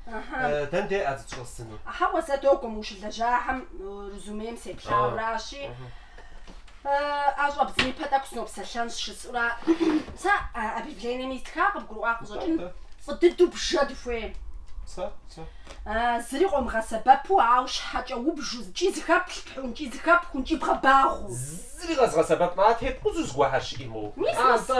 Э, Дэн де а зытщӏэсыну? Хьэуэ, зэ догуэ, мы ущылэжьахэм э, резюмем сеплъауэращи, э, а щӏэбдзэн ипэ тӏэкӏу сынопсэлъэн жысӏура. Сэ а объявлением истхар къыбгурыӏуа къыщӏэкӏын Тӏэ, фӏы дыдэу бжэ дыхуейщ. Сэ, сэ. А, Зыри къомыгъэсэбэпу, ауэ щхьэкӏэ убжу, икӏи зыхэплъхьун, икӏи зыхэпхун, икӏи бгъэбагъу. Зыри къэзгъэсэбэпмэ, а тепкъузу зыгуэрхэр щыӏиму. Мис, мис. Антӏэ,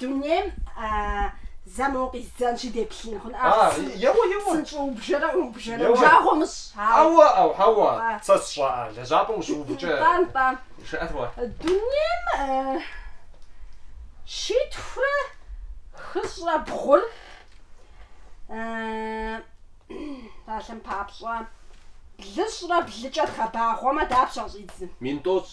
Дунейм зэ моуэ къиздзэнщи деплъын хъун. А, еуэ, еуэ. Псынщӏэу убжэрэ, убжэрэ, жагъуэ умыщӏ. Ауэ, ауэ, ауэ, сэ сщӏэӏэ, лэжьапӏэм ущыувыкӏэ. Тӏам, тӏам. Жыӏэт уэ. Дунейм щитхурэ хыщӏрэ бгъур псалъэм папщӏэ блыщӏрэ блыкӏэ дгъэбагъуэмэ дапщэ къыщӏидзын? Мин тӏощӏ.